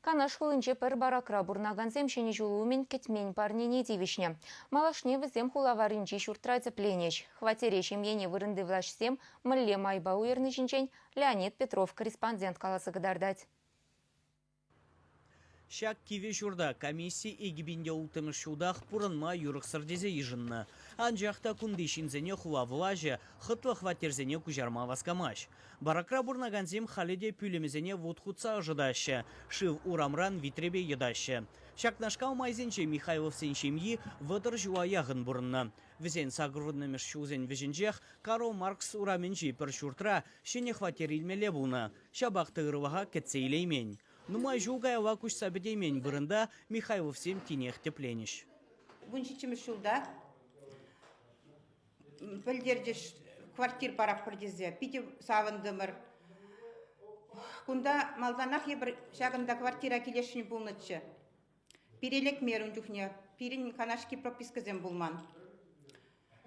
Канаш хулинче пӗр баракра пурӑнакансем Ҫӗнӗ ҫул умӗн кӗтмен парнене тивӗҫнӗ. Малашне вӗсем хула варринчи ҫуртра тӗпленӗҫ. Хваттере ҫемьене вырӑнти влаҫсем мӗнле майпа уйӑрни ҫинчен Леонид Петров корреспондент каласа кӑтартать. Ҫак кивӗ ҫурта комисси экипинте улттӑмӗш ҫултах пурӑнма юрӑхсӑр тесе йышӑннӑ. Анчах та кунти ҫынсене хула влаҫӗ хӑтлӑ хваттерсене куҫарма васкамасть. Баракра пурӑнакансем халӗ те пӳлӗмӗсене вут хутса ӑшӑтаҫҫӗ, шыв урамран витрепе йӑтаҫҫӗ. Ҫакнашкал майсенче Михайловсен ҫемйи вӑтӑр ҫула яхӑн пурӑннӑ. Вӗсен сакӑрвуннӑмӗш ҫулсен вӗҫӗнчех Карл Маркс урамӗнчи пӗр ҫуртра ҫӗнӗ хваттер илмелле пулнӑ, ҫапах та ӑрлӑха кӗтсе илеймен. Нумай ҫул каялла куҫса пӗтеймен вырӑнта Михайловсем тинех тӗпленӗҫ. Вун ҫиччӗмӗш ҫулта пӗлтерчӗҫ квартир паратпӑр тесе. Питӗ савӑнтӑмӑр. Кунта малтанах эпир ҫакӑнта квартира килесшӗн пулнӑччӗ. Пире лекмерӗ ун чухне. Пирӗн канашки пропискӑсем пулман.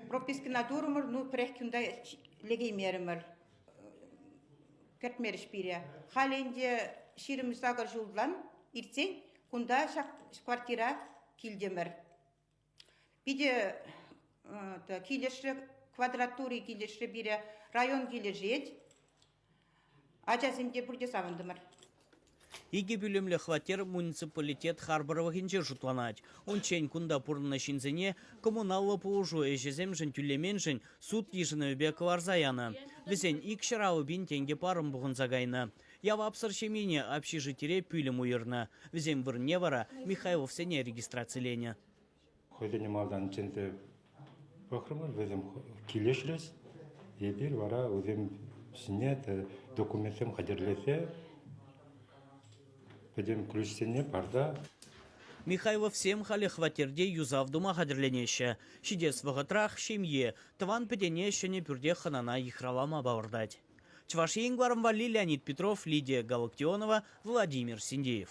Пропискӑна турӑмӑр, ну пӗрех кунта лекеймерӗмӗр. Кӗртмерӗҫ пире. Халӗ ӗнтӗ ҫирӗм сакӑр ҫултан иртсен кунта ҫак квартира килтӗмӗр. Питӗ килӗшрӗ, квадратури килӗшрӗ пире, район килӗшет. Ачасем те пурте савӑнтӑмӑр. Икӗ пӳлӗмлӗ хваттер муниципалитет харпӑрлӑхӗнче шутланать. Унччен кунта пурӑннӑ ҫынсене коммуналлӑ пулӑшу ӗҫӗсемшӗн тӳлеменшӗн суд йышӑнӑвӗпе кӑларса янӑ. Вӗсен икҫӗр-аллӑ пин тенкӗ парӑм пухӑнса кайнӑ. Явапсӑр ҫемьене общежитире пӳлӗм уйӑрнӑ, вӗсем вырӑнне вара Михайловсене регистрациленӗ. Хӑйсене малтан чӗнсе пӑхрӑмӑр, вӗсем килӗшрӗҫ. Эпир вара вӗсем ҫине документсем хатӗрлесе пӗтӗм ключсене парса Михайловсем халӗ хваттерте юсав тума хатӗрленеҫҫӗ. Ҫитес вӑхӑтрах ҫемье, тӑван-пӗтене ҫӗнӗ пӳрте хӑнана йыхравлама палӑртать. Чӑваш Ен кӑларӑм валли Леонид Петров, Лидия Галактионова, Владимир Синдеев.